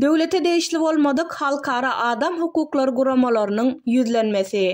Döwlete degişli bolmadyk halkara adam hukuklary guramalarynyň ýüzlenmesi.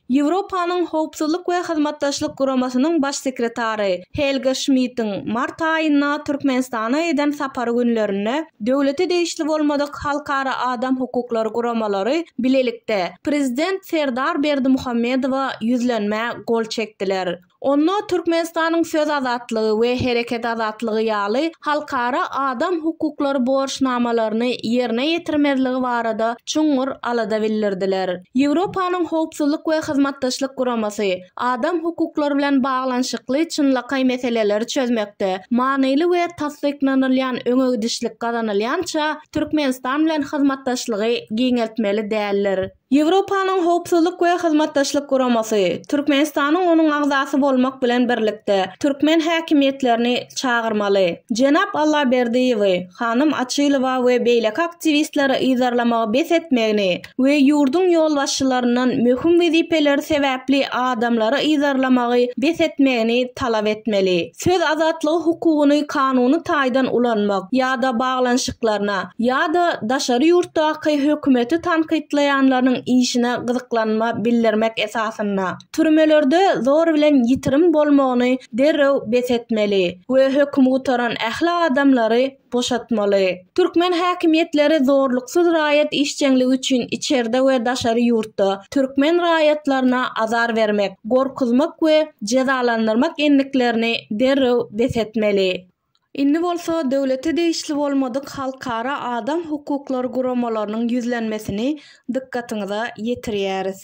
Ýewropanyň Howpsuzlyk we Hyzmatdaşlyk Guramasynyň Baş sekretary Helge Şmitiň mart aýynda Türkmenistana eden sapary günlerinde döwlete degişli bolmadyk halkara adam hukuklary guramalary bilelikde Prezident Serdar Berdimuhamedowa ýüzlenmä gol çekdiler. Onda Türkmenistanyň söz azatlygy we hereket azatlygy ýaly halkara adam hukuklary borçnamalaryny ýerine ýetirmezligi barada çuňňur alada bildirdiler. Ýewropanyň Howpsuzlyk we Hyzmatdaşlyk Guramasy adam hukuklary bilen baglanyşykly çynlakaý meseleleri çözmekde manyly we tassyklanylýan öňegidişlik gazanylýança Türkmenistan bilen hyzmatdaşlygy giňeltmeli däldir. Ýewropanyň Howpsuzlyk we Hyzmatdaşlyk Guramasy, Türkmenistanyň onuň agzasy bolmak bilen birlikde, türkmen häkimiýetlerini çagyrmaly, jenap Allaberdiýewi, hanym Açylowa we beýleki aktiwistleri yzarlamagy bes etmegini we ýurduň ýolbaşçylaryndan möhüm wezipeleri sebäpli adamlary yzarlamagy bes etmegini talap etmeli. Söz azatlygy hukugyny kanuny taýdan ulanmak ýa-da baglanyşyklaryna ýa-da daşary ýurtdaky hökümeti tankytlaýanlarynyň işine gyzyklanma bildirmek esasynda türmelerde zor bilen ýitirim bolmagyny derrew bes etmeli we höküm gutaran ähli adamlary boşatmaly. Türkmen häkimiýetleri zorluksyz raýat işjeňligi üçin içerde we daşary ýurtda türkmen raýatlaryna azar bermek, gorkuzmak we jezalandyrmak endiklerini derrew bes etmeli. Indi bolsa döwlete degişli bolmadyk halkara adam hukuklary guramalarynyň ýüzlenmesini dykgatyňyza ýetirýäris.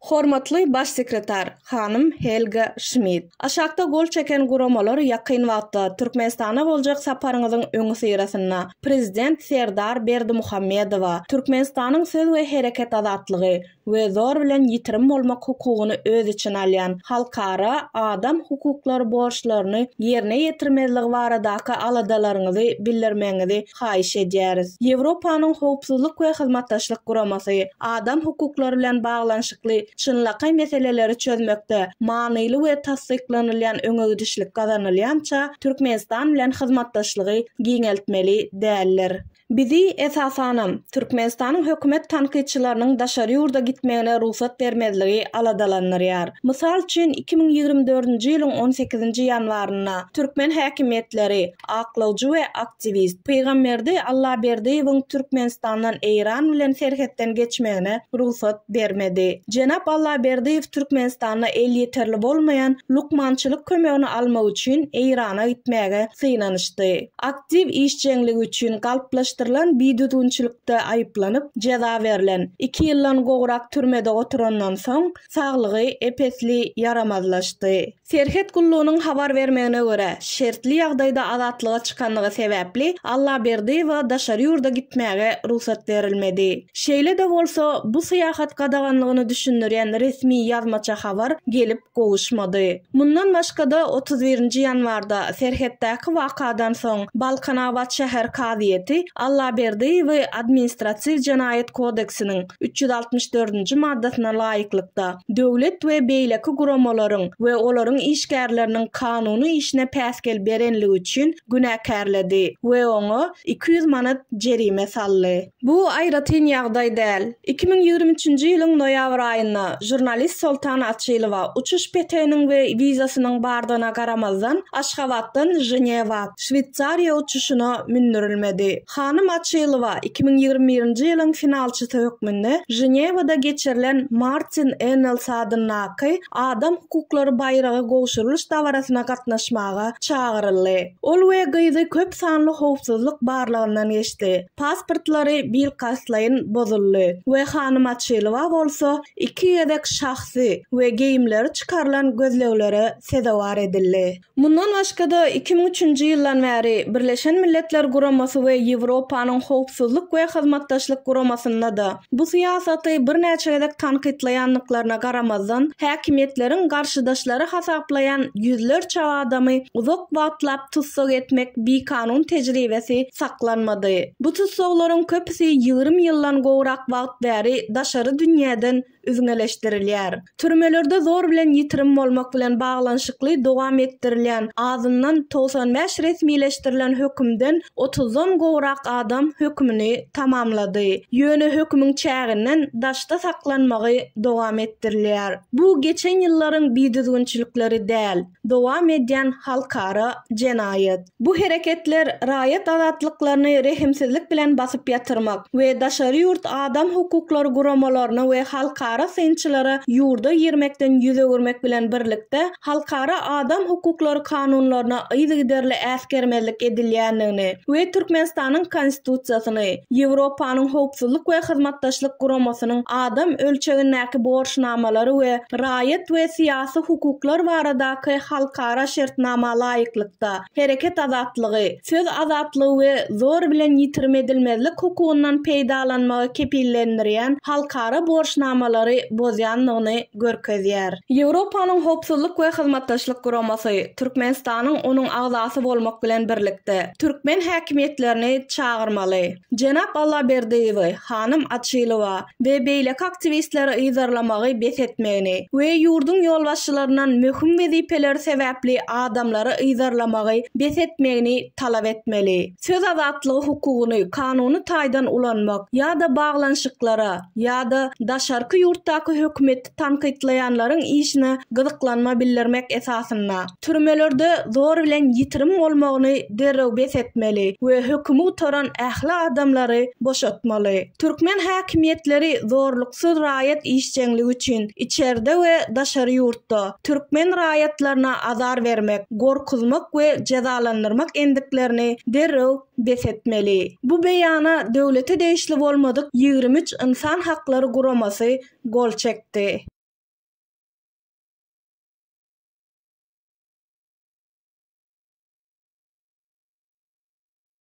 Hormatly Baş sekretar hanym Helga Şmit, aşakda gol çeken guramalar ýakyn wagtda Türkmenistana boljak saparyňyzyň öňüsyrasynda Prezident Serdar Berdimuhamedowa Türkmenistanyň söz we hereket azatlygy we zor bilen ýitirim bolmak hukugyny öz içine alýan halkara adam hukuklary borçlaryny ýerine ýetirmezligi baradaky aladalaryňyzy bildirmegiňizi haýyş edýäris. Ýewropanyň Howpsuzlyk we Hyzmatdaşlyk Guramasy adam hukuklary bilen baglanyşykly çynlakaý meseleleri çözmekde manyly we tassyklanylýan öňegidişlik gazanylýança Türkmenistan bilen hyzmatdaşlygy giňeltmeli däldir. Bizi, esasanam, Türkmenistanyň hökümet tankytçylarynyň daşary ýurda gitmegine rugsat bermezligi aladalandyrýar. Mysal üçin, iki müň ýigrimi dördünji ýylyň on sekizinji ýanwarynda türkmen häkimiýetleri aklawjy we Aktiwist, Pygamberdi Allaberdiýewiň Türkmenistandan Eýran bilen serhetden geçmegine rugsat bermedi. Jenap Allaberdiýew Türkmenistanda elýeterli bolmaýan lukmançylyk kömegini almak üçin Eýrana gitmäge synanyşdy. Aktiw işjeňligi üçin galplaşdyrylan bidüzgünçilikde aýyplanyp, jeza berlen. Iki ýyldan gowrak türmede oturandan soň, saglygy ep-esli ýaramazlaşdy. Serhet gullugynyň habar bermegine görä, şertli ýagdaýda azatlyga çykandygy sebäpli Allaberdiýewa daşary ýurda gitmäge rugsat berilmedi. Şeýle-de bolsa, bu syýahat gadaganlygyny düşündirýän resmi ýazmaça habar gelip gowuşmady. Mundan başga-da, otuz birinji ýanwarda serhetdäki wakadan soň Balkanabat şäher kazyýeti Allaberdiýewi administratiw jenaýat kodeksiniň, üç ýüz altmyş dördünji maddasyna laýyklykda, döwlet we beýleki guramalaryň we olaryň işgärleriniň kanuny işine päsgel berenligi üçin günäkärledi we oňa iki ýüz manat jerime saldy. Bu aýratyn ýagdaý däl. Iki müň ýigrimi üçünji ýylyň noýabr aýynda žurnalist Soltan Açylowa uçuş peteginiň we wizasynyň bardygyna garamazdan, Aşgabatdan Ženewa, Şweýsariýa uçuşyna mündürilmedi. Hanym Açylowa iki müň ýigrimi birinji ýylyň finalçysy hökmünde Ženewada geçirilen Martin Ennels adyndaky Adam hukuklary baýragy gowşurylyş dabarasyna gatnaşmaga çagyryldy. Ol we gyzy köp sanly howpsuzlyk barlagyndan geçdi, pasportlary bilkastlaýyn bozuldy we hanym Açylowa bolsa iki gezek şahsy we geýimleri çykarylan gözleglere sezewar edildi. Mundan başga-da, iki müň üçünji ýyldan bäri Birleşen Milletler Guramasy we Ýewropanyň Howpsuzlyk we Hyzmatdaşlyk Guramasynda-da bu syýasaty birnäçe gezek tankytlaýandyklaryna garamazdan, häkimiýetleriň garşydaşlary hasaplaýan ýüzlerçe adamy uzak wagtlap tussag etmek bikanun tejribesi saklanmady. Bu tussaglaryň köpüsi ýigrimi ýyldan gowrak wagt bäri daşary dünýäden üzňeleşdirilýär. Türmelerde zor bilen ýitirim bolmak bilen baglanyşykly dowam etdirilýän azyndan togsan bäş resmileşdirilen hökümden otuzdan gowrak adam hökümini tamamlady. Ýöne hökümiň çäginden daşda saklanmagy dowam etdirilýär. Bu geçen ýyllaryň bidüzgünçilikleri däl. dowam edýän halkara jenaýat. Bu hereketler raýat azatlyklaryny rehimsizlik bilen basyp ýatyrmak we daşary ýurt adam hukuklary guramalaryna we halkara synçylara ýurda girmekden ýüz öwürmek bilen birlikde halkara adam hukuklary kanunlaryna yzygiderli äsgermezlik edilýändigini we Türkmenistanyň Konstitusiýasyny, Ýewropanyň Howpsuzlyk we Hyzmatdaşlyk Guramasynyň adam ölçegindäki borçnamalary we raýat we syýasy esasy hukuklar baradaky halkara şertnama laýyklykda, hereket azatlygy, söz azatlygy we zor bilen ýitirim edilmezlik hukugyndan peýdalanmagy kepillendirýän halkara borçnamalary bozýandygyny görkezýär. Ýewropanyň Howpsuzlyk we Hyzmatdaşlyk Guramasy Türkmenistanyň onuň agzasy bolmak bilen birlikde, türkmen häkimiýetlerini çagyrmaly. Jenap Allaberdiýewi, hanym Açylowa we beýleki aktiwistleri yzarlamagy bes etmegini we ýurduň ýolbaşçylaryndan möhüm wezipeleri sebäpli adamlary yzarlamagy bes etmegini talap etmeli. Söz azatlygy hukugyny kanuny taýdan ulanmak ýa-da baglanyşyklara ýa-da daşarky ýurtdaky hökümet tankytlaýanlaryň işine gyzyklanma bildirmek esasynda, türmelerde zor bilen ýitirim bolmagyny derrew bes etmeli we hökümi gutaran ähli adamlary boşatmaly. Türkmen häkimiýetleri zorluksyz raýat işjeňligi üçin içerde we daşary ýurtda türkmen raýatlaryna azar bermek, gorkuzmak we jezalandyrmak endiklerini derrew bes etmeli. Bu beýana döwlete degişli bolmadyk ýigrimi üç ynsan haklary guramasy gol çekdi.